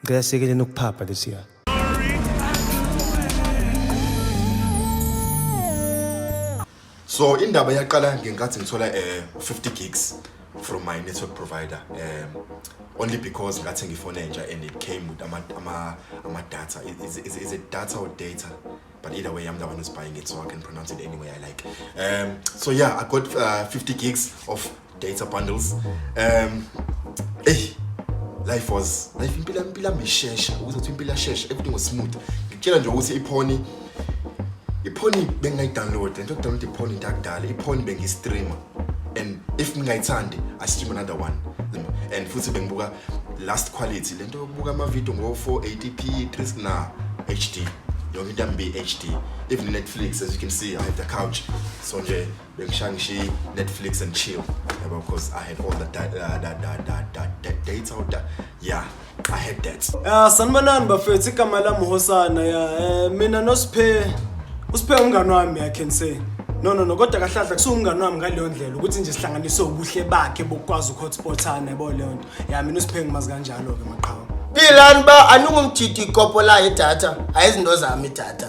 Ngicela siyekeleni ukuphapha lesiya. So indaba yaqala ngenkathi ngithola eh 50 gigs from my network provider um only because ngathi ngifone nje and it came with ama ama ama data is is is it data or data but either way I'm the one who's buying it so I can pronounce it any way I like um so yeah I got uh, 50 gigs of data bundles um eyi life was life impilo yami impilo yami ishesha ukuze kuthiwa impilo yashesha everything was smooth ngikutshela nje ukuthi iphoni iphoni bengingayidownload lento yokudownload iphoni into yakudala iphoni bengiyistreama and if ngingayithandi i stream another one and futhi bengibuka last quality lento yokubuka amavidiyo ngo-480p 3 na hd yonke into yami be-hd even netflix as you can see i have the couch so nje Shang-Chi, Netflix and chill. Yeah, of course, I had all the da- uh, da- da- da- da- da- dates out there. Yeah, I had that. Uh, sanibonani bafethu igama lami uhosana ya eh, mina nosiphe usiphe umngane wami i can say no no no kodwa kahlahla kusuwumngane wami ngaleyo ndlela ukuthi nje sihlanganise ubuhle bakhe bokukwazi ukuhotspothana yabo leyo nto ya mina usiphe ngimazi kanjalo-ke maqhawe Bilani ba aningumjidi ikopo la idatha ayizinto zami idatha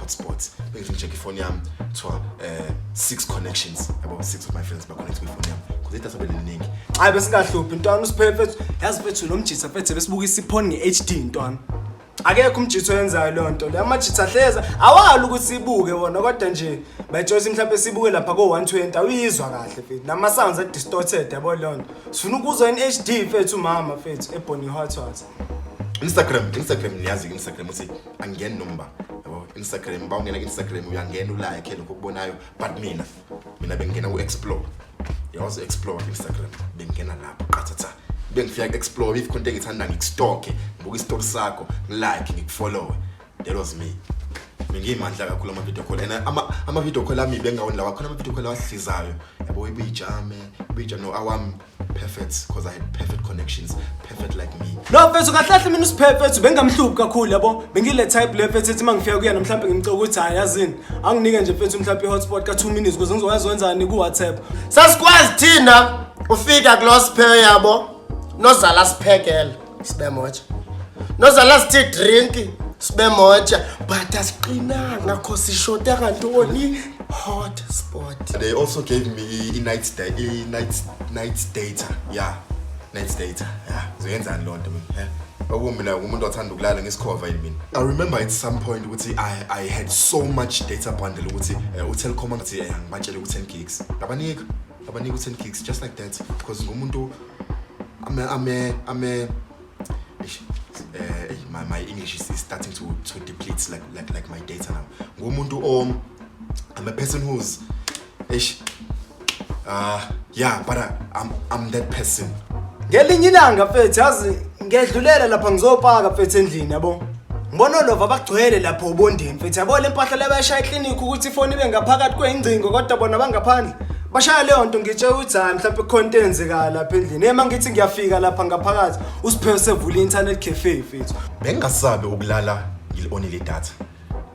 hotspot bengifuna check ifoni yami kuthiwa um six connections yabo six of my friends baconnect kwifoni yami kuze idatha beliningi hayi besingahluphi ntwana usiphephe yazi fethu lo mjitha fethu besibuka isiphoni nge-h d ntwana akekho umjitha oyenzayo loo nto leyo amajitha hleza awali ukuthi sibuke wona kodwa nje bayitshosi mhlawumpe sibuke lapha ko-one twenty awuyizwa kahle fethu nama-sounds adistorted yabo leyo nto sifuna ukuzwa in h d fethu umama fethu ebony hot hot instagram instagram niyazi-ke instagram uthi angeni nomba yabo instagram ba ungena ku-instagram uyangena ulike lokho okubonayo but mina mina bengingena ku-explore yawazi explore ku-instagram bengingena lapho qathatha bengifika ku-explore if khonto engithanda ngikustoke ngibuka isitori sakho ngilike ngikufollowe that was me bengiyimandla kakhulu ama-video call and ama-video call ami bengawondi lawa khona ama-video call awahlizayo yabo ibiyijame ibiyijame no awami perfect because I had perfect connections, perfect like me. No mfethu kahle kahle mina usiphe mfethu bengamhluphi kakhulu yabo. Bengile type le mfethu ethi mangifika kuyena mhlawumbe ngimcoka ukuthi hayi yazini. Anginike nje mfethu mhlawumbe i-hotspot ka 2 minutes ukuze ngizokwazi wenzani ku WhatsApp. Sasikwazi thina ufika kulosiphe yabo nozala siphekela. sibemoja nozala sithe drink sibemoja but asiqinanga kho sishota kantoni hot spot they also gave me i-night stay i-night night data yeah night data yeah zoyenzani loo nto mina okumina umuntu othanda ukulala ngesikhova yini mina i remember at some point ukuthi i i had so much data bundle ukuthi eh, utelcom angithi eh, angibatshele ku-10 gigs ngabanika abanika u-10 gigs just like that because ngumuntu ame ame ame eish, eh, eish, my, my english is, is starting to, to deplete like, like, like my data now ngumuntu o i'm a person who's eish, uh, yeah but I, I'm, i'm that person ngelinye ilanga mfethu yazi ngedlulela lapha ngizopaka mfethu endlini yabo Ngibona olova bagcwele lapho ubondeni mfethu yabo le mpahla le bayashaya eklinikhi ukuthi ifoni ibe ngaphakathi kweyingcingo kodwa bona bangaphandle bashaya leyo nto ngitshe ukuthi hayi mhlawumpe khona into eyenzekayo lapha endlini ema ngithi ngiyafika lapha ngaphakathi usiphewu sevula i-internet cafe mfethu bengingasabi ukulala ngili-onile idatha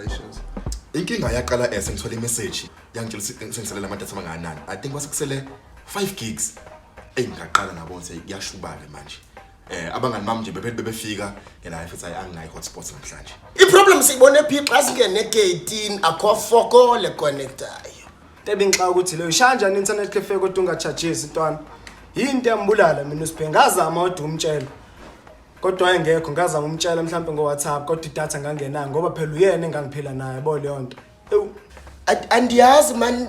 issues inkinga yaqala as ngithola imessage yangitshela ukuthi sengiselela ama-data amangakanani i think kwase kusele 5 gigs eyi ngaqala ngabona ukuthi kuyashubale manje eh abangani bami nje bebe- bebefika yena hayi futhi hayi anginayi hotspot namhlanje iproblem siyibone phi xa singene geyitini akho foko lekonektayo Tebinxa ukuthi leyo shanja ne-internet cafe kodwa ungachajisi ntwana. Yinto yambulala mina uSiphe ngazama kodwa umtshela. kodwa engekho ngaza ngumtshela mhlawumbe ngowhatsapp kodwa idatha ngangenayo ngoba phela uyena engangiphila naye bo leyo nto ewu andiyazi mani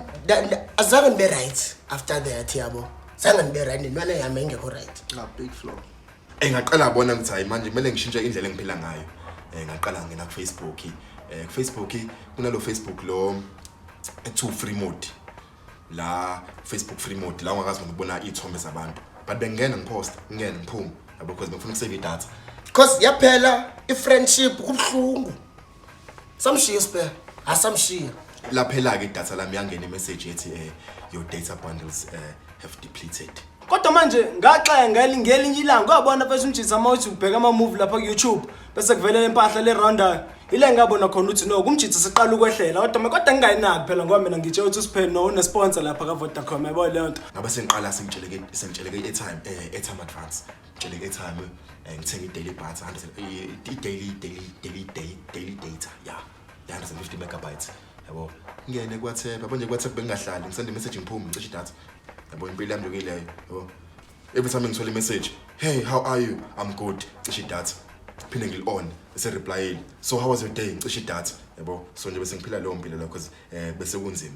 azange ndibe right after that yabo zange ndibe right nentwana yami engekho right big flow eyi ngaqala bona ngithi hayi manje kumele ngishintshe indlela engiphila ngayo um ngaqala ngena kufacebook um kufacebook kunalo facebook lo ekuthiwa ufree mode la Facebook free mode la ungakazi noma ukubona iy'thombe zabantu but bengingena ngiphosta ngingena ngiphume yabo because bengifuna ukusave idatha cause yaphela i-friendship kubuhlungu samshiya spare asamshiya laphela-ke idatha lami yangena imessage ethi um your data bundles um have depleted kodwa manje ngaxaya ngelinye ilanga kwabona bese umjisa uma uthi ubheka amamuvi lapha ku-youtube bese kuvele le mpahla le roundayo ile ngabona khona ukuthi no kumjitha siqala ukwehlela kodwa ma kodwa ngingayinaki phela ngoba mina ngitshe ukuthi usiphele no unesponsor lapha kavodacom yabo leyo nto ngabe sengiqala sengitsheleke sengitsheleke i-airtime um eh, airtime advance ngitsheleke i-airtime um ngithenga i-daily bats i-daily daily daily daily daily data ya yeah. 350 megabytes yabo ngene kwathepha manje kwathepha bengingahlali ngisende message ngiphume ngicishe idatha yabo impilo yami yokileyo yabo every time ngithola imessage hey how are you i'm good cishe idatha phinde ngili-on esereplayile so how was your day ngicishe idatha yabo so nje bese ngiphila leyo mpilo leyo because um bese kunzima